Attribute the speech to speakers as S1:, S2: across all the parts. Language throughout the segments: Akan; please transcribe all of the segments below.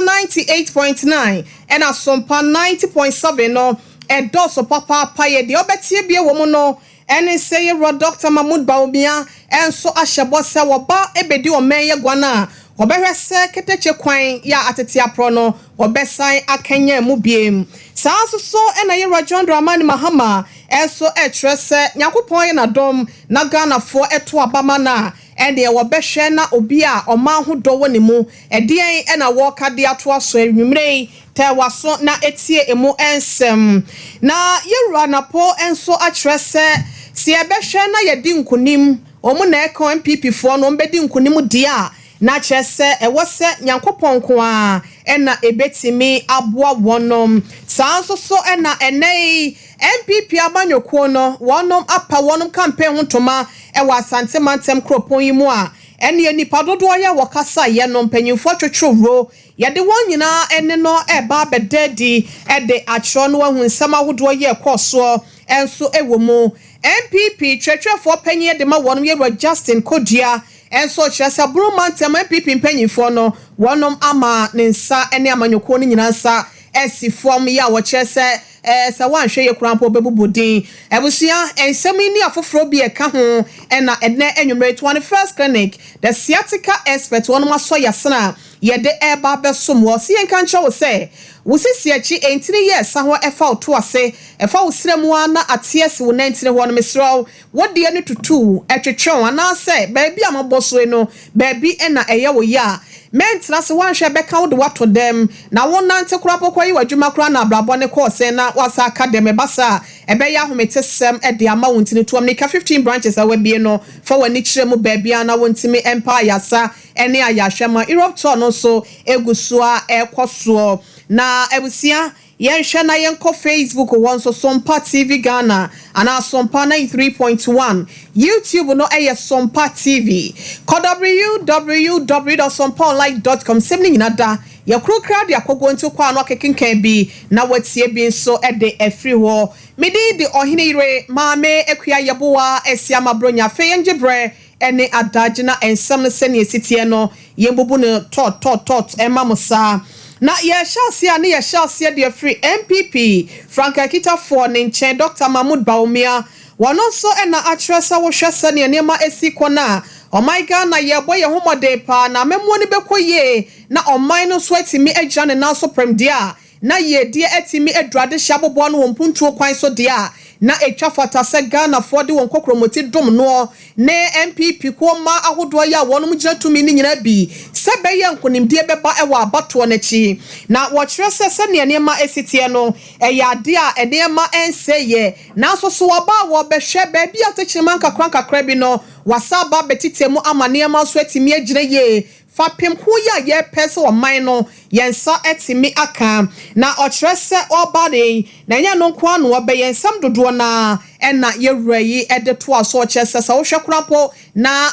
S1: ninety eight point nine ɛna sompa ninety point seven no ɛdɔɔso papaapa yɛ deɛ ɔbɛteɛ bie wɔ mu no ɛne sɛ yɛwura Dɔkta Mahmood Bawumia nso ahyɛ bɔ sɛ wɔba ɛbɛdi ɔman yi aguan a wɔbɛhwɛ sɛ kɛtɛkyɛ kwan yɛ a atete aporɔ no wɔbɛsan akanyan mu biom saa nso so ɛna yɛwura John Dramani Mahama nso ɛkyerɛ sɛ Nyankopɔn ayɛ nadom na Ghanafoɔ ɛto aba ma no a Ɛnneɛ wɔbɛhwɛ na obi a ɔman ho dɔ wɔ ne mu. Ɛdeɛn na wɔreka de atoa so anwummerɛ yi? Tɛ w'aso na tie emu nsɛm. Na yɛwura anapɔ nso akyerɛ sɛ, sɛ yɛbɛhwɛ na yɛadi nkonim, wɔn na ɛka NPP foɔ no, wɔbɛdi nkonim deɛ a, na kyerɛ sɛ ɛwɔ sɛ Nyankopɔn nko ara na ɛbɛtumi aboa wɔn. Saa ara nso so na ɛnnɛ yi, NPP amanyɔkuo no wɔnom apa wɔnom campaign ho ntoma wɔ Asante mantam kuropɔn yi mu a ɛneɛ nnipa dodoɔ yɛ wɔ kasaeɛ no mpanyinfoɔ twetwere wuro yɛde wɔn nyinaa ɛne no ɛreba abɛda adi de akyerɛ no ahu nsɛm ahodoɔ yi ɛkɔɔ soɔ nso wɔ mu NPP twerɛtwerɛfoɔ panyin de ma wɔnom yɛwura Justin Kodua nso ɔkyerɛ sɛ Bono mantam NPP mpanyinfoɔ no wɔnom ama ne nsa ne amanyɔkuo no nyinaa nsa asi fam yi a wɔkyerɛ sɛ Ɛɛ, sɛ woanhwɛ yie koraa mpo a, wobɛbubu din. Abusua, nsɛm yi ne afoforɔ bi a ɛka ho na ɛnnɛ anwummere Toa no First Clinic, The Sciatica Expert wɔnom asɔ yɛn asene a yɛde reba abɛsom wo. Ɔse yɛnka nkyerɛ wo sɛ wo sisi akyi ntini yɛ ɛsa hɔ ɛfa wo to ase, ɛfa wo srɛ mu ara na ate asi wo nantini hɔ no. Mesrɛ wo, Wo deɛ no tutuu, ɛtwetwew, anaasɛ baabi a mobɔsoe no baabi na ɛyɛ wo ya a, merentena ase, woanhwɛ a bɛka wo de woato dɛm, na wonante koraa mpo kɔyɛ w'adwuma koraa na abrabɔ no kɔɔ sɛn na woasan aka dɛm, ɛba saa a ɛbɛyɛ ahometesɛm de ama wo nti no tuam nika fifteen branches a woabie no, fa w'ani kyerɛ mu baabi a na wontumi mpa ayarsa ne ayarhwɛ ma Europe tour no nso gu so ara ɛrekɔ soɔ na abusua Yɛnhwɛ na yɛnkɔ Facebook hɔ nso, Sompa TV Ghana anaa Sompa ninety three point one. YouTube no yɛ Sompa TV. Kɔ www dot sompaonline dot com, nsɛm no nyina da yɛ koro kra de akɔ guo nti kɔ ano akekenkan bi na woatie bi nso de afiri hɔ. Me din de Ɔhene Yere, Maame Akua Yeboah Asiamah Bronya. Afei yɛngye berɛ ɛne adagye na nsɛm no sɛnea ɛsi teɛ no, yɛmbubu no tɔɔtɔɔtɔɔt mma mo saa. Na yɛrehyɛ aseɛ a, na yɛhyɛ aseɛ de afiri NPP frankaa kitafoɔ no nkyɛn, Dɔkta Mahmood Bawumia. Ɔno nso na akyerɛ sɛ wohwɛ sɛnea nneɛma asi kɔ no a, ɔman Ghana yɛrebɔ yɛn ho mmɔden pa ara na amammuo no bɛkɔ yie na ɔman no nso atumi agyina ne nan so prɛmdeɛ a, na yiedie atumi aduru adehye aboboa no wɔ mpuntuo kwan so deɛ a, na ɛtwa fata sɛ Ghanafoɔ de wɔn kokromoti dom noɔ ne NPP kuo mmaa ahodoɔ yi a wɔnom gyina tumi no nyinaa bi sɛ bɛyɛ nkonimdie bɛba wɔ abatoɔ no akyi. Na wɔkyerɛ sɛ sɛdeɛ nneɛma asi teɛ no, ɛyɛ adeɛ a nneɛma nsɛeɛ, nanso so wɔba a wɔbɛhwɛ baabi a tɛkyerɛma nkakrankakra bi no, wɔasan aba abɛtetɛ mu ama nneɛma nso atumi agyina yie. Fapem ko yi a yɛpɛ sɛ ɔman no yɛn nsa tumi aka na ɔkyerɛ sɛ ɔreba no yi, na ɛnyɛ ɛno nko ara na ɔbɛyɛ, nsɛm dodoɔ no ara na yɛwura yi de toa so, ɔkyerɛ sɛ sɛ wohwɛ koraa mpo na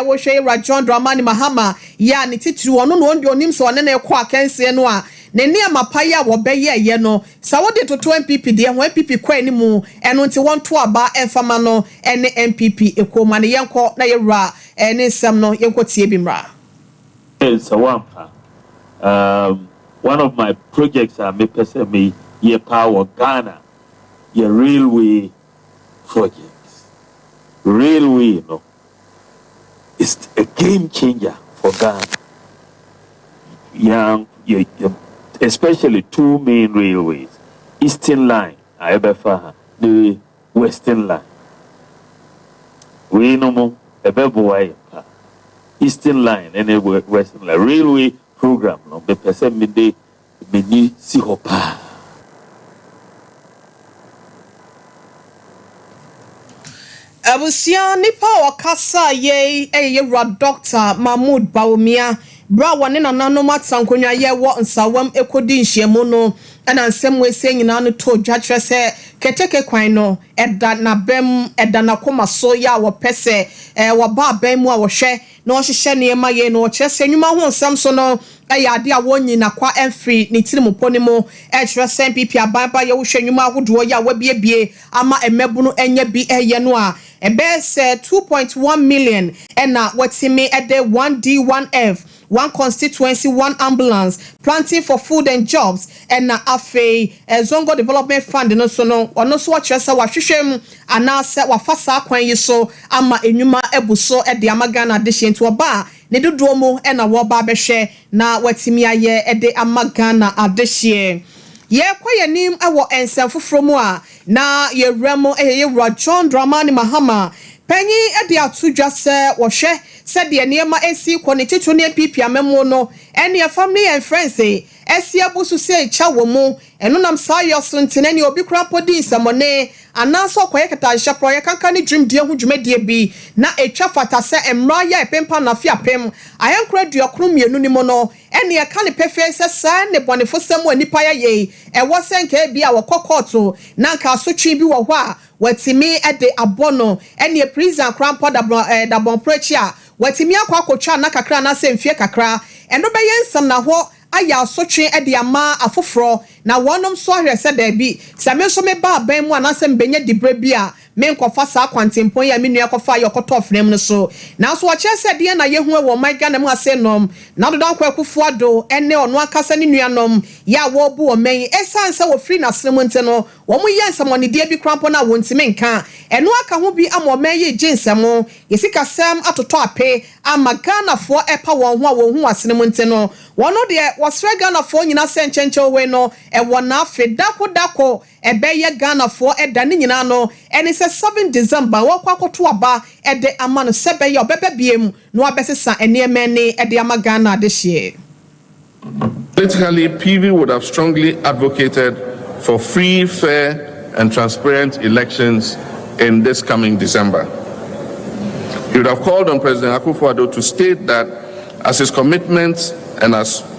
S1: wohwɛ yɛwura John Dramani Mahama yi a ne titiriw ɔno na ɔndeɛ ɔnim sɛ ɔne no rekɔ akansie no a, ne nneɛma pa yi a wɔbɛyɛeɛ no, sɛ wode toto NPP deɛ ho a, NPP kɔ anim, ɛno nti wɔnto aba mfa ma no ne NPP kuo ma no, yɛnkɔ na yɛwura. Ɛɛ ne nsɛm no yɛnkɔ tie bi mmra. Ɛɛ sɛ
S2: woampa um one of my projects a mepɛ sɛ me yɛ paa wɔ Ghana yɛ railway project. Railway no is a game changer for Ghana yɛn yɛ yɛ especially two main railways, Eastern line a ɛbɛfa ha ne. Westinland. Wei nom ɛbɛboa yɛn paa. Eastern Line ɛne Western Line Railway program no mepɛ sɛ mede m'ani si hɔ paa.
S1: Abusua nipa a ɔkasa yei yɛ yɛn wura Doctor Mahmood Bawumia Bere a wɔne nananom atena nkonyaayiɛ wɔ nsawam kodi nhyiamu no na nsɛm wɔasie nyinaa no too dwa kyerɛ sɛ keteke kwan no da n'abam, ɛda n'akoma so yɛ a wɔpɛ sɛ wɔba aban mu a wɔhwɛ na wɔhyehyɛ nneɛma yie no. Kyerɛ sɛ nnwuma ho nsɛm so no yɛ ade a wɔnyi nakwa mfiri ne tirim mpo no mu. Ɛkyerɛ sɛ npp aban ba yɛ wohwɛ nnwuma ahodoɔ yi a wɔabiebie ama mmabunu anya bi yɛ no a, Bɛyɛ sɛ two point one million na wɔatumi de one D one F, one constituency one ambulance, planting for food and jobs, ɛna afei Zongo Development Fund no nso no, ɔno nso wɔkyerɛ sɛ wɔahwehwɛ mu anaasɛ wɔafa saa kwan yi so ama nnwuma abu so de ama Ghana adehyeɛ nti wɔba a, ne dodoɔ mu na wɔreba abɛhwɛ na wɔatumi ayɛ de ama Ghana adehyeɛ. Yɛrekɔ yɛn anim wɔ nsɛm foforɔ mu a, Na yɛwura mu yɛ yɛn wura John Dramani Mahama panyin de ato dwa sɛ wɔhwɛ sɛdeɛ nneɛma ɛsi kɔ ne titire ne NPP amammuo no ɛne ɛfam ne yɛn mfrɛnse asi abu so sɛ ɛkya wɔ mu ɛno nam saa yɔ so nti na ɛneɛ obi koraa mpo di nsɛmɔne anaa sɛ ɔkɔyɛ kɛtanhyɛ koraa ɔyɛ kanka ne dwumdie ho dwumadie bi na ɛtwa fata sɛ mmara yi a ɛpempa no afe apem ahenkron aduokron mmienu no mu no Ɛnneɛ ɛka no pefee sɛ saa nnebɔnefosɛm a nnipa yɛ yei, ɛwɔ sɛ anka ebia wɔkɔ kɔɔto na anka asotwe bi wɔ hɔ a wɔatumi de abɔ no. Ɛnneɛ prison koraa mpo dabɔnporo akyi a wɔatumi akɔ akɔtwa nna kakra anaasɛ mfeɛ kakra, ɛno bɛyɛ nsamnahɔ ayɛ asotwe de ama afoforɔ. Na wɔnom nso ahwɛ sɛ, Dabi, sɛ me nso meba aban mu anaasɛ mebɛnya diberɛ bi a, Menkɔfa saa kwantempɔn yi a me nua kɔfaeɛ a ɔkɔtɔɔ frɛm no so. Nanso ɔkyerɛ sɛ deɛn na yɛhu wɔ ɔman Ghana mu ase nom, na Dodon Kwaa Akuffo Addo ne ɔno ankasa ne nuanom yɛ a wɔrebu ɔman yi ɛsiane sɛ wɔfiri n'asene mu nti no, wɔyɛ nsɛmɔnedeɛ bi koraa mpo no a wɔntumi nka. Ɛno aka ho bi ama ɔman yi regye nsɛmo, yɛ sikasɛm atotɔ ape ama Ghanafoɔ ɛpa wɔn ho a wɔnhu wɔn asene mu nti no, wɔn deɛ wɔsrɛ Ghanafoɔ nyinaa sɛ nkyɛnkyɛn hoe no wɔ n'afe dako dako. Ɛbɛyɛ Ghanafoɔ ɛda ne nyinaa no ɛne sɛ seven December wɔɔkɔ akɔto aba ɛde ama no sɛ bɛyɛ ɔbɛba biem na wabɛsesa nneɛma ani ɛde ama Ghana adehyeɛ.
S3: Politically, PV would have strongly advocated for free, fair and transparent elections in this coming December. He would have called on President Akuffo-Addo to state that as his commitment and as.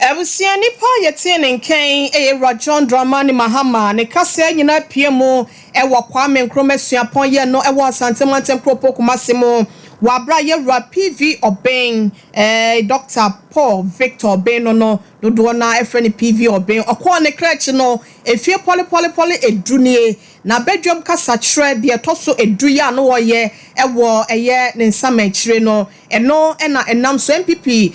S3: Abusua
S1: nipa a yɛtee ne nka yi yɛ Rajon Dramani Mahama. Ne kaseɛ nyinaa apue mu wɔ Kwame Nkrumah Suapɔn yɛn no wɔ Asante Mantam Kuropɔn Kumasi mu wɔ aberɛ a Yɛwura PV Obeng, Dɔkta Paul Victor Obeng no no dodoɔ no ara ɛfrɛ no PV Obeng, ɔkɔɔ ne kra akyi no ɛfie pɔlepɔlepɔle edu nie. N'abadwam kasakyerɛ deɛ ɛtɔ so edu yɛ a na ɔyɛ wɔ ɛyɛ ne nsamankyire no. Ɛno na ɛnam so NPP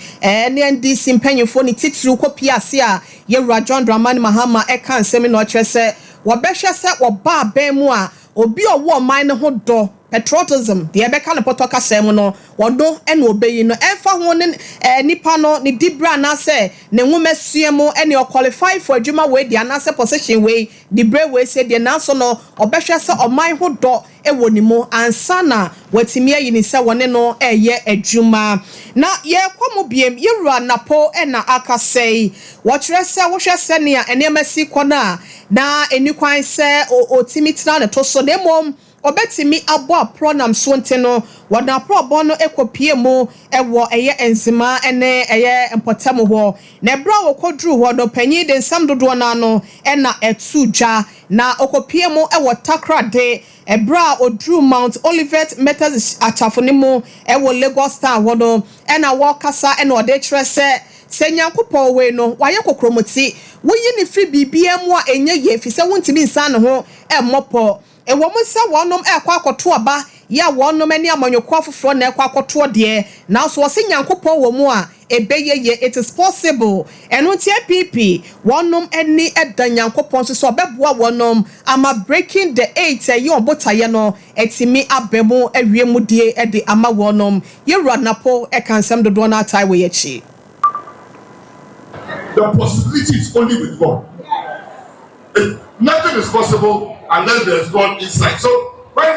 S1: ne NDC mpanyimfoɔ no titiriw kɔpie ase a Yɛwura John Dramani Mahama ka nsɛm yi na ɔkyerɛ sɛ wɔbɛhwɛ sɛ wɔba abɛn mu a obi a ɔwɔ ɔman no ho dɔ, patriotism, deɛ yɛbɛka no pɔtɔ kasa mu no, ɔno na wɔbɛyi no ɛmfa ho ne nipa no ne diberɛ anaasɛ ne nwomasua mu ɛneɛ ɔqualify for adwuma wei deɛ anaasɛ position wei, diberɛ wei sei deɛ nanso no wɔbɛhwɛ sɛ ɔman ho dɔ wɔ ne mu ansa na wɔatumi ayi no sɛ wɔne no reyɛ adwuma. Na yɛrekɔ mu biom, yɛn wura Napo na aka sɛi, Wɔkyerɛ sɛ wohwɛ sɛnea nneɛma si kɔ no a, na ɛnni kwan sɛ ɔtumi tena ne to so, na mmom ɔbɛtumi abɔ aporɔ nam so nti no, wɔde no aporɔ bɔn no kɔpuee mu wɔ ɛyɛ Nzema ne ɛyɛ mpɔtam hɔ. Na ɛberɛ a wɔkɔduruu hɔ no, panin de nsɛm dodoɔ no ara no na ɛtoo dwa. Na ɔkɔpuee mu wɔ Takoradi berɛ a ɔduruu Mount Olivet Methodist Akyafo no mu wɔ Lagos Town hɔ no, ɛna wɔrekasa na ɔde rekyerɛ sɛ, sɛ Nyankopɔn wei no, wayɛ kokromoti, woyi no firi biribiara mu a ɛnyɛ yie ɛfiri sɛ wontumi nsan ne ho mmɔ pɔ. Ɛwɔ mu sɛ wɔnom rekɔ akɔto aba yɛ a wɔnom ne amanyɔkuo afoforɔ na ɛrekɔ akɔtoɔ deɛ, nanso wɔse Nyankopɔn wɔ mu a, Ɛbɛyɛ yie, it is possible. Ɛno nti app wɔnom ani da Nyankopɔn so sɛ ɔbɛboa wɔnom ama breaking the eight a ɛyɛ wɔn botaeɛ no atumi aba mu awie mu die de ama wɔnom. Yɛn Wura Napo ka nsɛm dodoɔ no ara tae wɔ yɛn akyi. The
S4: possibility is only with God. It, nothing is possible unless there is God inside. So when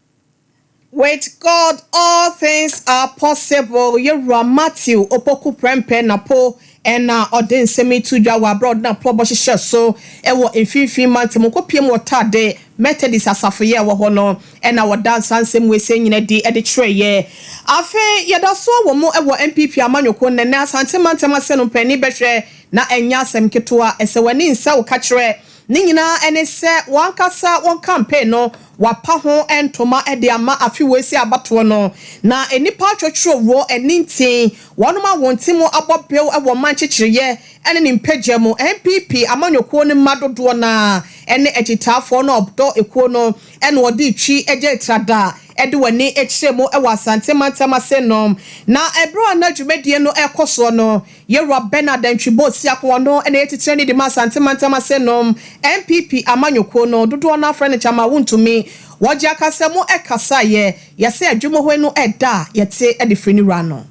S1: With God all things are possible, Yɛwura Matthew Opoku Prempeh Napo na ɔde nsɛm yi to dwa wɔ aberɛ a ɔde n'aporɔbɔ hyehyɛɛ so wɔ Mfimfini Mantam Nkokopiam wɔ Tade Methodist Asafoyɛ a ɛwɔ hɔ no na wɔdaa saa nsɛm wei-sei nyina adi de kyerɛeɛ. Afei yɛdasoɔ wɔ mu wɔ NPP Amanyɔkuo no, ɛnnɛ Asante Mantam Asɛnum Panin bɛhwɛ na ɛnyɛ asɛm ketewa, ɛsɛ w'ani nsɛ wo kakyerɛ. Ne nyinaa ne sɛ wɔn ankasa wɔn campaign no wɔapa ho ntoma de ama afe wei sɛ abatoɔ no, na nnipa atwɔtwɔrɔ wɔ ɛne nti, wɔnom a wɔn ti mu abɔ bew wɔ ɔman nkyekyereɛ ne ne mpagya mu, NPP amanyɔkuo no mma dodoɔ no ara ne akyitaafoɔ no a ɔdɔ kuo no na wɔde retwi gya etrada de wɔn ani kyerɛ mu wɔ Asante mantam ase nom. Na berɛ a na dwumadie no rekɔ soɔ no, Yewura Bernard Antwi Bossia ko ɔno na ɛyɛ titire ne de ma Asante Mantam ase nom NPP amanyɔkuo no dodoɔ no afrɛ no kyama wontumi wɔgye akasa mu ɛkasa yɛ yɛ sɛ adwumohoe no ɛda a yɛte de firi ne wura no.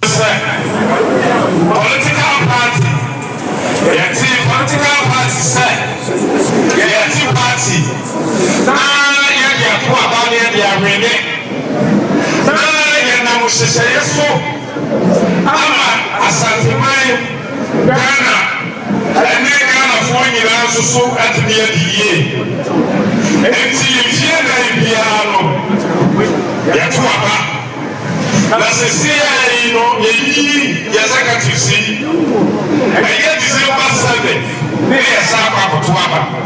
S1: Sɛ
S5: political party yɛte political party sɛ yɛte party. Na yɛde ato aba na yɛde awe ne. Na yɛnam nhyehyɛeɛ so ama Asanteman, Ghana ne Ghanafoɔ nyinaa nso so atumi adi yie. Enti mfeɛ nnan biara no yɛto aba. Na seesei ara yi no yɛyiyi yɛn executives yi, ɛyɛ December seven na yɛsan akɔ akɔto aba.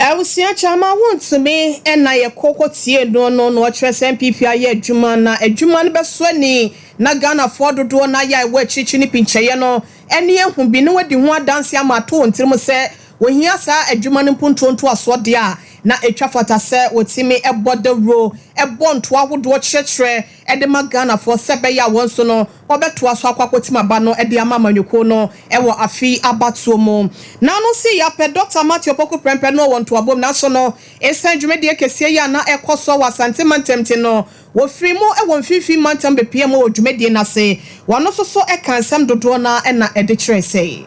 S5: Abusua
S1: Kyama wontumi na yɛ kɔ kɔ tie no no na ɔkyerɛ sɛ NPP ayɛ adwuma na adwuma no bɛsɔ ani na Ghanafoɔ dodoɔ no ayɛ a ɛwɔ akyirikyiri no pinkyɛeɛ no ani ahu bi na wadi ho adanseɛ ama ato wɔn tirim sɛ wɔhia saa adwuma no mpuntuo ntoasoɔ deɛ a na ɛtwa fata sɛ wɔtumi bɔ dawuro bɔ ntoa ahodoɔ kyerɛkyerɛ de ma Ghanafoɔ sɛ ɛbɛyɛ a wɔn nso no wɔbɛtoa so akɔ akɔtim aba no de ama amanyɔkuo no wɔ afe yi abatoɔ mu. Na no nso yɛ apɛ Dɔkta Matthew Opoku Prempeh no wɔ ntoabom nanso no ɛsiane dwumadie kɛseɛ yi a na ɛkɔ soɔ wɔ Asante mantam nti no wɔfirii mu wɔ mfimfini mantam bɛpiaa mu wɔ dwumadie no ase. Wɔn nso so kaa nsɛm dodoɔ no ara na ɛde kyerɛɛ sɛ.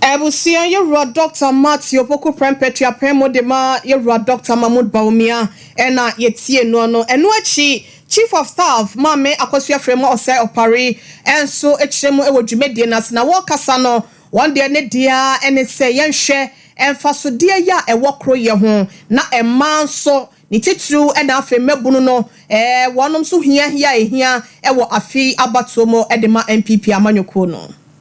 S1: Abusua Yɛwura Dɔkta Marks Opoku Prempeh Tuapɛn mu de ma Yɛwura Dɔkta Mahmood Bawumia ɛna yɛtiee noɔ no. Ɛno akyi Chief of Staff Maame Akwasu Afrima Ɔsɛe Ɔpare nso kyerɛ mu wɔ dwumadie no ase na wɔrekasa no wɔn deɛ ne deɛ ara ɛne sɛ yɛnhwɛ mfasodeɛ yɛ a ɛwɔ koroyɛ ho na mmaa nso ne titiriw ɛna afei mmabunu no ɛɛ wɔnom nso hiahia a ɛhia wɔ afei abatoɔ mu de ma NPP amanyɔkuo no.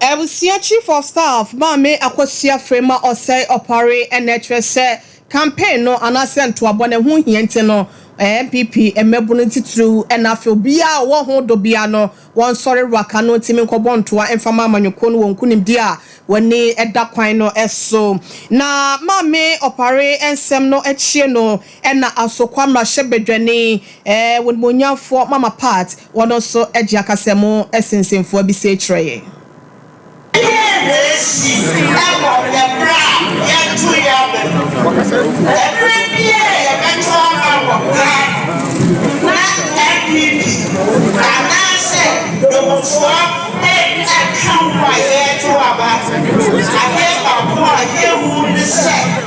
S1: Abusua Chief of Staff Maame Akosua Afrey ma ɔsɛe ɔpare na ɛkyerɛ sɛ campaign no anaasɛ ntoabɔ no ɛho hia nti no, NPP mmabunu titiriw na afei obiara a ɔwɔ ho dɔ biara no Wɔnsɔre waka no nti menkɔbɔ ntoa mfa ma amanyɔkuo no wɔ nkunimdie a w'ani da kwan no so. Na Maame Opare nsɛm no akyie no na Asokwa mmarahyɛbadwani w'animuonyamfoɔ Mama Pat wɔno nso gye akasamu sensenfoɔ bi sie kyerɛɛ yɛn. Dɛn na esi wɔ nnɛ bere a yɛato yɛn aba mu? Bere biara a yɛbɛto aba wɔ Ghana na NPP anaasɛ Dɔmfoɔ nka ho a yɛreto aba, adeɛ baako a yehu ne sɛ,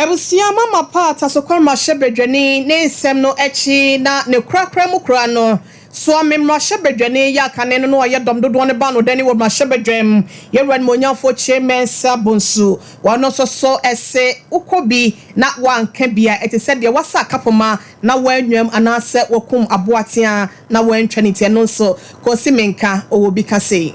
S1: Abusua mama pa a Tasokɔ mmarahyɛbadwani ne nsɛm no akyi na ne korakora mu kura no, Suomen mmarahyɛbadwani yɛ akane no na ɔyɛ dɔm dodoɔ no baanodani wɔ mmarahyɛbadwam, Yɛwura Animuonyamfoɔ Kyei Mensah Bonsu. Ɔno nso so se wokɔ bi na woanka bi a ɛte sɛ deɛ woasa akapoma na woannwam anaasɛ woakum aboa teaa na woantwa ne ti. Ɛno nso Kosi Menka ɔwɔ bi ka sei.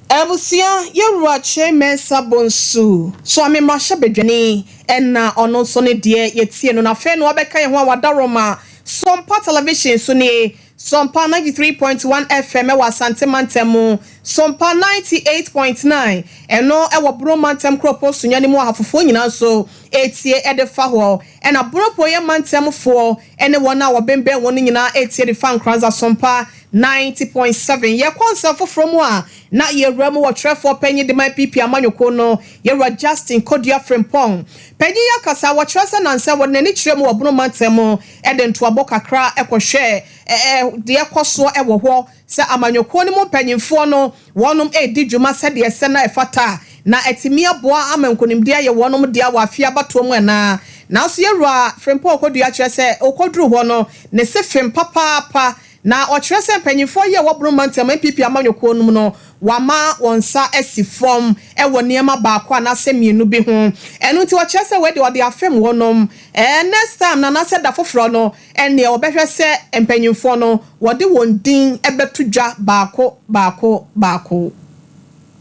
S1: Abusua yɛwura kyerɛ mɛnsa bɔ nsu so ame mmarahyɛ badwani ɛna ɔno nso ne deɛ yɛtie no na afei no wabɛka yɛn ho a wadaworo ma Sompa Television so nie Sompa 93.1 FM ɛwɔ Asante mantam mu Sompa 98.9 ɛno ɛwɔ Bono mantam kuropɔn Sunyani mu Ahafofoɔ nyinaa nso ɛtie ɛde fa hɔ ɛna Bonopoeɛ mantam foɔ ɛne wɔn a wɔbembɛn wɔn no nyinaa ɛtie de fa Nkranza Sompa Ninety point seven, Yɛkɔ nsɛm foforɔ mu a, na yɛwura mu wɔ twerɛfoɔ panyin de ma NPP amanyɔkuo no, Yɛwura Justin Kodua Frimpong. Panyin yi akasa a, wɔkyerɛ sɛ nansa wɔde n'ani kyerɛɛ mu wɔ Bono mantam mu de ntoabɔ kakra kɔhwɛɛ ɛɛ deɛ ɛkɔ soɔ wɔ hɔ, sɛ amanyɔkuo no mu mpanyinfoɔ no wɔnom redi dwuma sɛdeɛ ɛsɛ na ɛfata a, na atumi aboa ama nkunimdie ayɛ wɔnom dea wɔ afeɛ abatoɔ mu anaa. Nanso Yɛwura Frimpong Kodua kyerɛ sɛ ɔkɔduruu hɔ no, ne se fem papaapa Na ɔkyerɛ sɛ mpanyimfoɔ yi a ɛwɔ Bono Mantam NPP amanyɔkuo no mu no, wɔama wɔn nsa asi fam wɔ nneɛma baako anaasɛ mmienu bi ho. Ɛno nti ɔkyerɛ sɛ wei deɛ ɔde afem wɔnom. Ɛɛ next time no anaasɛ da foforɔ no ɛnneɛ wɔbɛhwɛ sɛ mpanyimfoɔ no wɔde wɔn din bɛto dwa baako baako baako.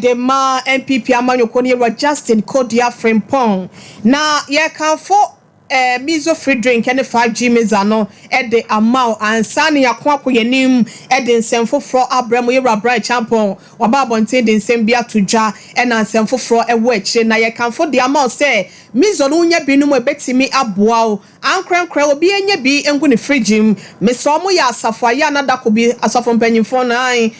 S1: de ma NPP amanyɔkuo no yɛwura Justin Kodua Frimpong na yɛrekamfo eh, Mizo Free Drink ɛne Fa G Miza no de ama wo ansa na yɛako akɔ yɛn anim de nsɛm foforɔ abrɛ mo yɛwura Brian Champon waba abɔnten de nsɛm bi ato dwa ɛna nsɛm foforɔ ɛwɔ akyire na yɛkamfo de ama wo sɛ Mizo no wonya bi nom ɛbɛtumi aboa wo Ankorankora obi nyɛ bi ngu ne fridge mu. Mesɛ ɔmo yɛ asafo a yɛ a na dako bi asɔfo mpanyinfo no ae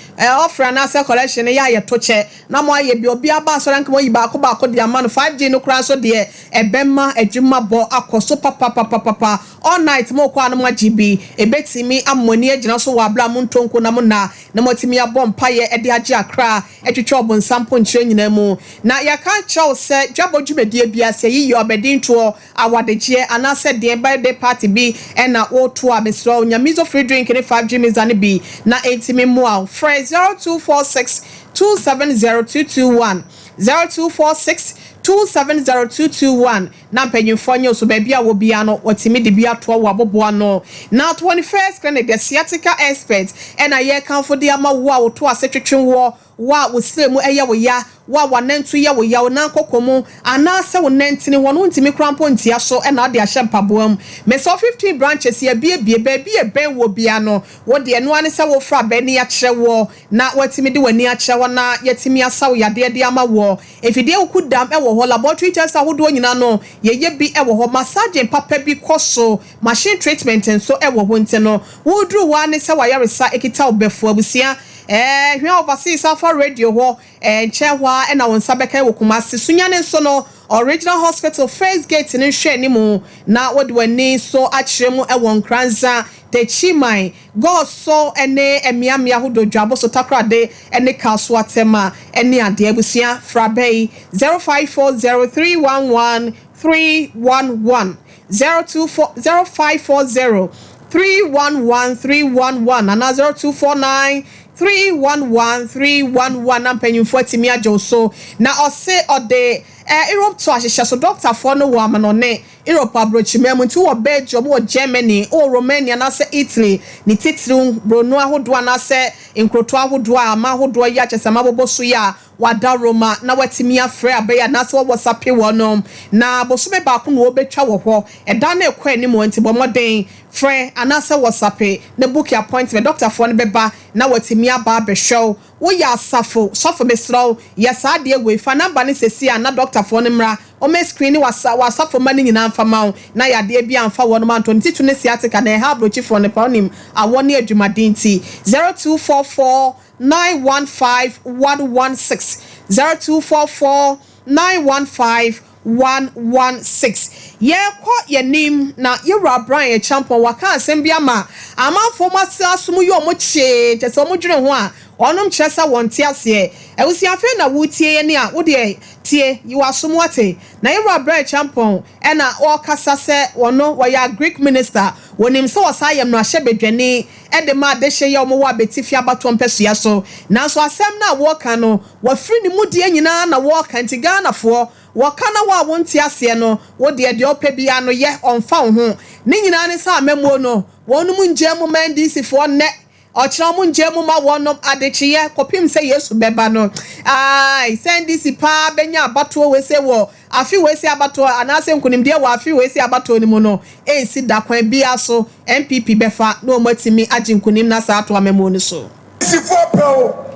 S1: offering anaasɛ collection no yɛ a yɛto kyɛ na mo ayɛ bi. Obiara ba asɔre anka wɔayi baako baako de ama no. 5G no koraa nso deɛ ɛbɛma adwuma bɔ akɔ so papapapapapa. All night mo kɔ a na mo agye bi. Ɛbɛtumi ama mo ani agyina so wɔ aberɛ a mo ntɔ nku na mo nna na mo atumi abɔ mpaeɛ ɛde agye akra atwitwa ɔbonsam ponkyerɛ nyinaa mu. Na yɛka nkyerɛ wo sɛ dwabɔ dwumadie biara sɛ yiyɛ ɔbɛdintoɔ. Awadekyeɛ anaa sɛ deɛ birthday party bi na wo to a mesrɛ wo nya mizo free drink ne five gye miza no bi na ɛnti me mmoa wo frɛ zero two four six two seven zero two two one zero two four six two seven zero two two one na mpanyinfoɔ nyɛ wo so baabi a wɔ biara no wɔtumi de bi atoa wo aboboano na twenty first clinic the sciatica expert ɛna yɛrekamfo de ama wo a wo to ase twetwe woɔ Wo a wo srɛ mu yɛ wo ya, wo a w'anantu yɛ wo ya, wo nan koko mu, anaasɛ wo nantini, wɔn ntumi koraa mpo ntia so na wode ahyɛ mpaboa mu. Mesɔɔ fifteen branches, yɛabuebue baabi a ɛbɛn woɔ biara no. Wo deɛ, ɛno ara ne sɛ wofrɛ a bɛani akyerɛ woɔ, na woatumi de w'ani akyerɛ hɔ na yɛatumi asa wo yadeɛ de ama woɔ. Mfidie wokudam wɔ hɔ, laboratory tests ahodoɔ nyinaa no, yɛyɛ bi wɔ hɔ. Massaging papa bi kɔ so. Machine treatment nso wɔ ho nti no woduru hɔ ara ne sɛ w'ayaresa kita wo bɛfu. Abusua eh hwɛ overseas Alpha Radio hɔ eh nkyɛɛ hɔ ara na wo nsa bɛka ɛwɔ Kumasi. Sunyani nso no Original Hospital first gate no nhwɛanimu na wode w'ani nso akyerɛ mu wɔ Nkranza, Techiman, Goso ne mmeammea ahodoɔ Dwaboso, Takorade ne Kaso Atɛma ne adeɛ. Abusua fra bɛ yi 0540 311 311. zero two four zero five four zero three one one three one one anaa zero two four nine three one one three one one na mpanyinfoɔ atumi agye wo so. Na ɔse ɔde ɛɛ Europe to ahyehyɛ so. Dɔktafoɔ no wɔ amanɔne Europe aburokyiman mu nti wowɔ Belgium, wowɔ Germany, wowɔ Romania anaasɛ Italy ne titiriw buroni ahodoɔ anaasɛ nkurotoɔ ahodoɔ a aman ahodoɔ yɛ akyɛsɛm abobɔ so yi a, Wɔada Roma na wɔatumi afrɛ abɛyɛ anaasɛ wɔwɔ sape wɔ no, na bosome baako na wɔbɛtwa wɔ hɔ. Ɛda no rekɔ anim nti, bɔ mmɔden frɛ anaasɛ wɔ sape na buki apɔintmɛnt. Dɔktafoɔ no bɛba na wɔatumi aba abɛhwɛ wo. Woyɛ asafo sɔfo? Mesrɛ wo, yɛ saa adeɛ wei. Fa namba no seesei ara na dɔktafoɔ no mmra. Wɔbɛskriini w'asafo mma no nyinaa mfa mma wo na yadeɛ biara amfa wɔnom anto. Ne titire ne sciatica na ɛha abrokyifoɔ no paa, wonim, awɔ ne adwumaden nti. Zero two four four. nine one five one one six zero two four four nine one five one one six Yɛrekɔ yɛn anim na yɛn wura Brian Acheampong waka asɛm bi ama amanfoɔ a wɔasra aso mu yɛ wɔn kyee kyerɛ sɛ wɔn dwene ho a wɔnom kyerɛ sɛ wɔn nte aseɛ Abusua afei na wo retie yɛn a wo deɛ tie yi wo aso mu ate na yɛn wura Brian Acheampong na ɔrekasa sɛ wɔno wɔyɛ agric minister wɔnim sɛ wɔsan yɛ mmarahyɛ badwani de ma adehye yɛ wɔn wɔ abetifi abatoɔ mpɛsoa so. Nanso asɛm no a wɔreka no, wɔafiri ne mu deɛ nyinaa na wɔreka nti Ghanafoɔ, wɔka na wo a wonte aseɛ no, wo deɛ deɛ wopɛ biara no yɛ, ɔmfa wo ho. Ne nyinaa ne sɛ amammuo no, wɔnom nngyaa mu mma NDCfoɔ nnɛ, ɔkyena wɔn nngyaa mu mma wɔnom adekyeɛ kɔpem sɛ Yesu bɛba no. Aai, sɛ NDC paa bɛnya abatoɔ wei sei wɔ. Afe wei se abatoɔ anaase nkunimdie wɔ afe wei se abatoɔ no mu no ɛnsi da kwan biaa so NPP bɛfa na ɔmo atumi agye nkunim no asan ato amamuo no so. Polisifoɔ pɛ o,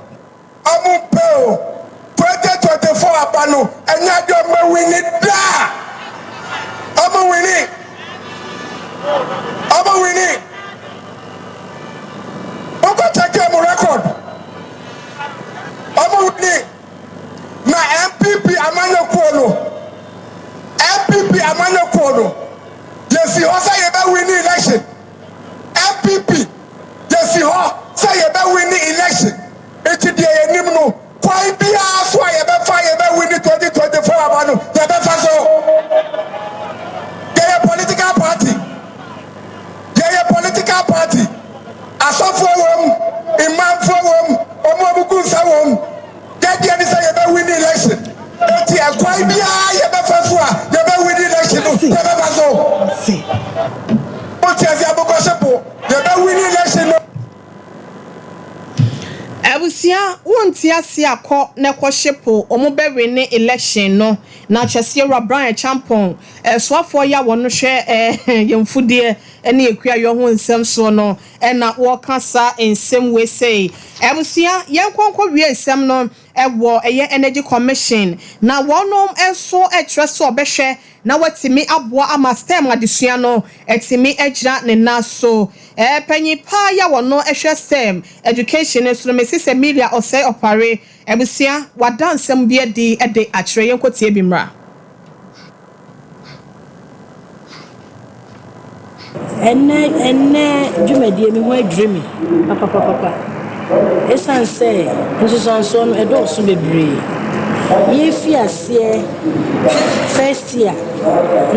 S6: ɔmo mpɛ o, twenty twenty four aba no ɛnyɛ ade a ɔmo awini da, ɔmo wini, ɔmo wini, monkɔ kyɛke ɔmo record, ɔmo wini. Na NPP amanyɔkuo no, NPP amanyɔkuo no, yɛsi hɔ sɛ yɛbɛ wini election. NPP yɛsi hɔ sɛ yɛbɛ wini election. Nti deɛ yɛnim no, kwan biara so a yɛbɛfa yɛbɛ wini 2024 aba no, yɛbɛfa so. Yɛyɛ political party. Yɛyɛ political party, asɔfoɔ wom, imaamfoɔ wom, wɔn a wɔgu nsa wom. Yɛn deɛ ne sɛ yɛbɛ win election. Enti ɛkwan biara yɛbɛfa so a yɛbɛ win election no yɛbɛfa so. Wote aseɛ abokɔhye po, yɛbɛ win election no.
S1: Abusua wonte aseɛ a kɔ na kɔhye po, wɔbɛ win election no. Na kyɛseɛ wura Brian Acheampong Ɛsoafoɔ yi a wɔn hwɛ yɛn mfudeɛ ne akuayɔ ho nsɛm soɔ no na wɔka saa nsɛm wei sei. Abusua, yɛn kɔ nkɔ wie nsɛm no wɔ ɛyɛ Energy Commission na wɔn nso kyerɛ sɛ wɔbɛhwɛ na wɔatumi aboa ama STEM adesua no atumi agyina ne nan so. Panyin paa yi a wɔn hwɛ STEM education no so no, Mrs Emilia Osei Opare, Abusua, wɔada nsɛm bi adi de akyerɛ. Yɛnkɔtie bi mmra.
S7: Ɛnnɛ ɛnnɛ dwumadie me ho adwiri me papapapapa ɛsiane sɛ nsunsuansoɔ no ɛdɔɔso bebree. Yɛrefiri aseɛ first year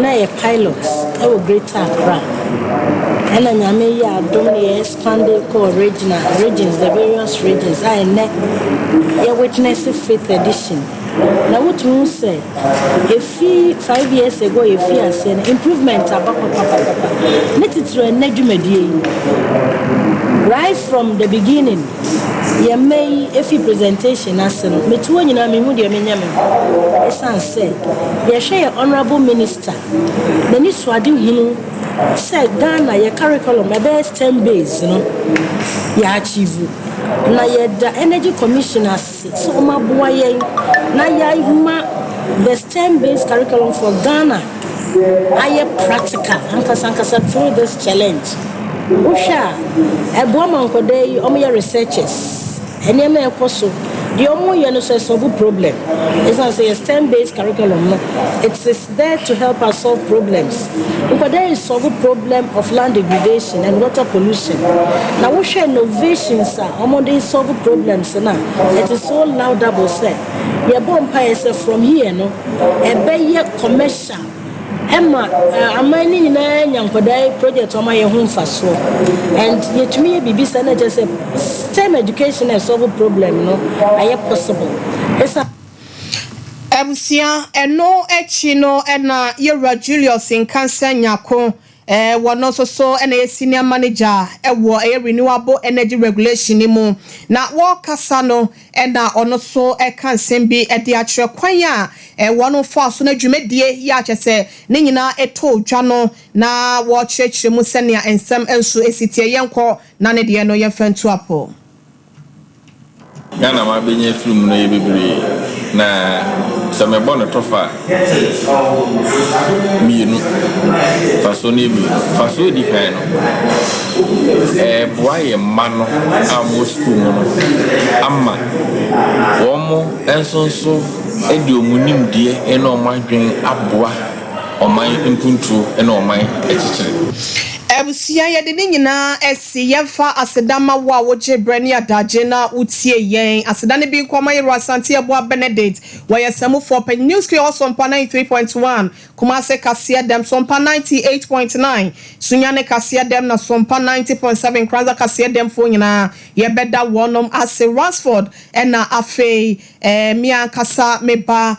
S7: na yɛyɛ pilot wɔ Greater Accra ɛna Nyame yɛɛ adom na yɛyɛ. Sunday kɔɔ Regina Regents, the various Regents a ɛnnɛ yɛ Witness Fifth Edition, na wotumi hu sɛ efi five years ago a yɛfii aseɛ no, improvement aba papapapa. Ne titire ɛnnɛ dwumadie yi, right from the beginning, yɛn mma yi efi presentation no ase no, metu hɔ nyinaa menhu deɛ menyɛ me ho, esiane sɛ yɛhwɛ yɛn Honourable Minister, n'ani so ade hunu, sɛ Ghana yɛ curriculum ɛbɛyɛ stem based no yɛ achieve na yɛda energy commission ase sɛ wɔn aboa yɛn na yɛama the stem based curriculum for Ghana ayɛ practical ankasa ankasa through this challenge wohwɛ a ɛboa ma nkɔdaa yi wɔn yɛ researchers nneɛma ɛkɔ so deɛ wɔn yɛ no so ɛsɔbo problem ɛsan sɛ yɛ stem based curriculum no it's There to help us solve problems Nkɔda yi solve problem of land degradation and water pollution Na wo hwɛ novations a wɔn de solve problems no a it is so laudable sɛ yɛ bɔ mpaeɛ sɛ from here no ɛbɛ yɛ commercial ɛma aman no nyinaa nya nkɔda yi project wɔn ayɛ ho mfasoɔ and yɛ tumi yɛ biribi saa na kyerɛ sɛ stem education na ɛsolve problem no ayɛ possible ɛsan.
S1: Abusua, Ɛno akyi no na yɛn wura Julius Nkansah Nyarko, wɔ no nso so na ɛyɛ Senior Manager wɔ ɛyɛ Renewable Energy Regulation no mu, na wɔrekasa no na ɔno nso ɛka nsɛm bi de akyerɛ kwan a wɔn faa so na dwumadie yi a kyerɛ sɛ ne nyinaa ɛtɔɔ dwa no na wɔrekyerɛkyerɛ mu sɛnea nsɛm nso ɛsi teɛ. Yɛnkɔ na ne deɛ no yɛmfa ntu apɔ. Nea
S8: na mabenya afiri mu no yɛ bebree, na sɛ mebɔ no tɔfa a, mmienu, mfasoɔ no yɛ mmienu. Mfasoɔ a ɛdi kan no, ɛreboa yɛn mma no a wɔwɔ sukuu mu no ama wɔn nso nso de wɔn nimdeɛ ne wɔn adwene aboa ɔman mpuntuo ne ɔman atitire. Abusua,
S1: yɛde ne nyinaa asi. Se yɛmfa aseda ma wo a wogyee berɛ ne adagye na wotiee yɛn. Aseda no bi nkɔ ma Yeru Asante Abua Benedict, wɔyɛ Samufoɔ panyin, New School Hɔ Sompa 93.1, Kumase Kaseɛ Dɛm, Sompa 98.9, Sunyani Kaseɛ Dɛm na Sompa 90.7 Nkranza Kaseɛ Dɛm foɔ nyinaa yɛbɛda wɔnom ase, Ransford ɛna afei ɛɛ me ankasa me ba.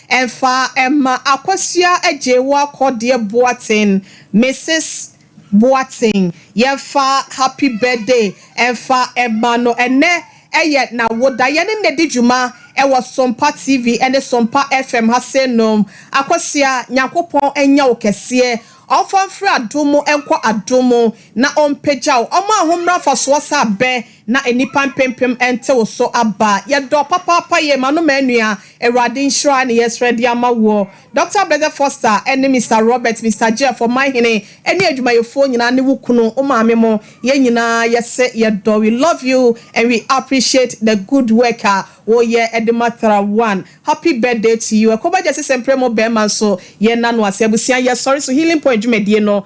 S1: Ɛmfa mma akosua agyee wo akɔ deɛ Boateng, Mrs. Boateng yɛmfa happy birthday ɛmfa mma no ɛnnɛ ɛyɛ nawoda yɛne no di dwuma ɛwɔ Sompa TV ɛne Sompa FM ha sei nom Akosua Nyankopɔn ɛnyɛ wo kɛseɛ ɔmfa mfiri adom mu ɛnkɔ adom mu na ɔmpagya wo ɔma ahommra mfasoɔ sɛ abɛ Na nnipa mpempem ntew so aba. Yɛdɔ papaapa yɛ ma no ma nua. Awurade nhyira ne yɛsrɛ de ama woɔ. Doctor Blessed Foster ne Mister Robert, Mister Jeff, ɔman hene ne adwumayɛfoɔ nyinaa ne wo kunu, wo maame mo, yɛn nyinaa yɛse yɛdɔ we love you and we appreciate the good work a woyɛ de ma Thera One. Happy birthday to you. Ɛkɔba Gyasi Semprɛ mo bɛɛma nso yɛn na no ase. Abusua yɛsɔre so healing point dwumadie no.